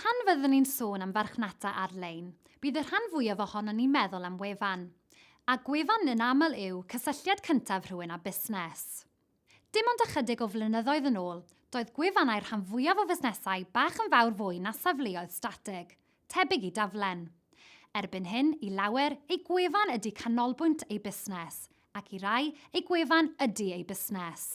Pan fyddwn ni'n sôn am farchnata ar-lein, bydd y rhan fwyaf ohonon ni'n meddwl am wefan. A gwefan yn aml yw cysylltiad cyntaf rhywun â busnes. Dim ond ychydig o flynyddoedd yn ôl, doedd gwefannau'r rhan fwyaf o fusnesau bach yn fawr fwy na safleoedd statig, tebyg i daflen. Erbyn hyn, i lawer, eu gwefan ydy canolbwynt eu busnes, ac i rai, eu gwefan ydy eu busnes.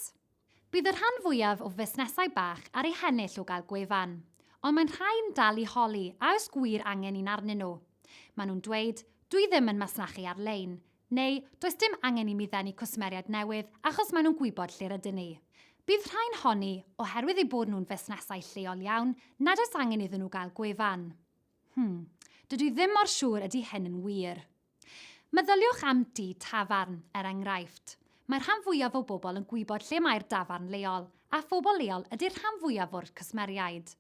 Bydd y rhan fwyaf o fusnesau bach ar eu hennill o gael gwefan, ond mae'n rhai yn dal i holi a oes gwir angen un arnyn nhw. Maen nhw'n dweud, 'Dwi ddim yn masnachu ar-lein, neu 'Does dim angen i mi ddenu cwsmeriaid newydd achos maen nhw'n gwybod lle rydyn ni. Bydd rhai'n honni, oherwydd eu bod nhw'n fusnesau lleol iawn, nad oes angen iddyn nhw gael gwefan. Hmm, dydw i ddim mor siŵr ydy hyn yn wir. Meddyliwch am du tafarn, er enghraifft. Mae'r rhan fwyaf o bobl yn gwybod lle mae'r dafarn leol, a phobl leol ydy'r rhan fwyaf o'r cwsmeriaid.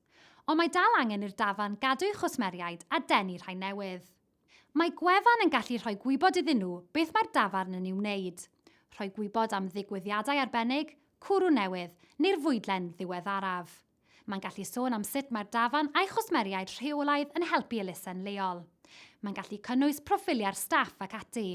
Ond mae dal angen i'r dafarn gadw'i chwsmeriaid a denu rhai newydd. Mae gwefan yn gallu rhoi gwybod iddyn nhw beth mae'r dafarn yn ei wneud. Rhoi gwybod am ddigwyddiadau arbennig, cwrw newydd, neu'r fwydlen ddiweddaraf. Mae'n gallu sôn am sut mae'r dafarn a'i chwsmeriaid rheolaidd yn helpu elusen leol. Mae'n gallu cynnwys proffiliau'r staff ac ati.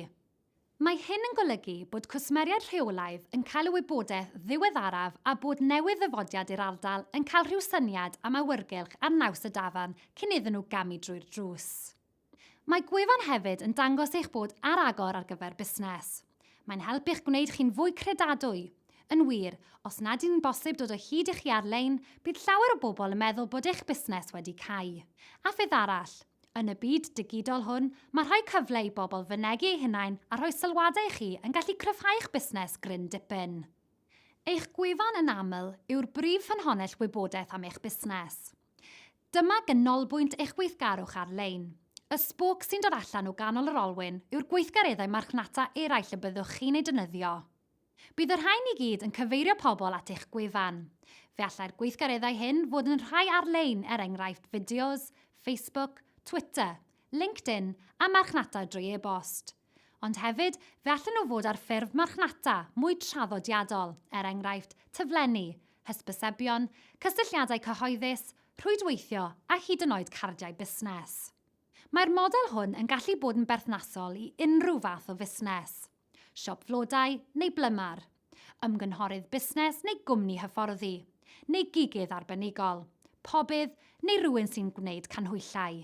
Mae hyn yn golygu bod cwsmeriaid rheolaidd yn cael y wybodaeth ddiweddaraf a bod newydd-ddyfodiad i'r ardal yn cael rhyw syniad am awyrgylch ar naws y dafarn cyn iddyn nhw gamu drwy'r drws. Mae gwefan hefyd yn dangos eich bod ar agor ar gyfer busnes. Mae'n help i'ch gwneud chi'n fwy credadwy. Yn wir, os nad yw'n bosib dod o hyd i chi ar-lein, bydd llawer o bobl yn meddwl bod eich busnes wedi cau. A pheth arall, yn y byd digidol hwn, mae rhoi cyfle i bobl fynegi eu hunain a rhoi sylwadau i chi yn gallu cryfhau'ch busnes gryn dipyn. Eich gwefan yn aml yw'r brif ffynhonnell wybodaeth am eich busnes. Dyma ganolbwynt eich gweithgarwch ar-lein. Y sbwc sy'n dod allan o ganol yr olwyn yw'r gweithgareddau marchnata eraill y byddwch chi'n eu defnyddio. Bydd y rhain i gyd yn cyfeirio pobl at eich gwefan. Fe allai'r gweithgareddau hyn fod yn rhai ar-lein er enghraifft fideos, Facebook, Twitter, LinkedIn a marchnata drwy e-bost. Ond hefyd, fe allen nhw fod ar ffurf marchnata mwy traddodiadol, er enghraifft, taflenni, hysbysebion, cysylltiadau cyhoeddus, rhwydweithio a hyd yn oed cardiau busnes. Mae'r model hwn yn gallu bod yn berthnasol i unrhyw fath o fusnes, siop flodau neu blymar, ymgynghorydd busnes neu gwmni hyfforddi, neu gigydd arbenigol, pobydd neu rywun sy'n gwneud canhwyllau.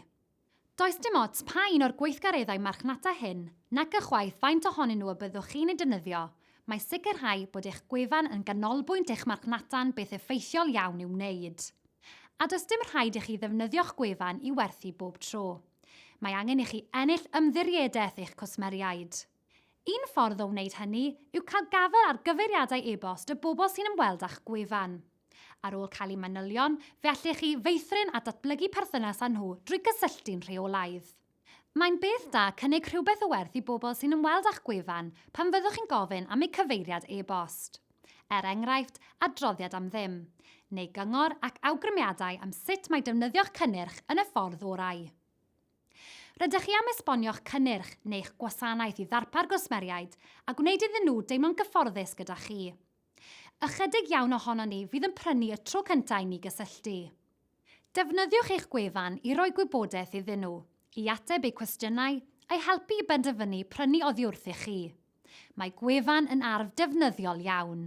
Does dim ots pa un o'r gweithgareddau marchnata hyn, nac ychwaith faint ohonyn nhw y byddwch chi'n eu defnyddio, mae sicrhau bod eich gwefan yn ganolbwynt eich marchnata'n beth effeithiol iawn i'w wneud. A does dim rhaid i chi ddefnyddio'ch gwefan i werthu bob tro. Mae angen i chi ennill ymddiriedaeth eich cwsmeriaid. Un ffordd o wneud hynny yw cael gafael ar gyfeiriadau e-bost y bobl sy'n ymweld â'ch gwefan. Ar ôl cael eu manylion, fe allech chi feithrin a datblygu perthynas â nhw drwy gysylltu'n rheolaidd. Mae'n beth da cynnig rhywbeth o werth i bobl sy'n ymweld â'ch gwefan pan fyddwch chi'n gofyn am eu cyfeiriad e-bost, er enghraifft, adroddiad am ddim, neu gyngor ac awgrymiadau am sut mae defnyddio'ch cynnyrch yn y ffordd orau. Rydych chi am esbonio'ch cynnyrch neu'ch gwasanaeth i ddarpar gwsmeriaid a gwneud iddyn nhw deimlo'n gyfforddus gyda chi. Ychydig iawn ohonon ni fydd yn prynu y tro cyntaf i ni gysylltu. Defnyddiwch eich gwefan i roi gwybodaeth iddyn nhw, i ateb eu cwestiynau, a'u helpu i benderfynu prynu oddiwrth i chi. Mae gwefan yn arf defnyddiol iawn.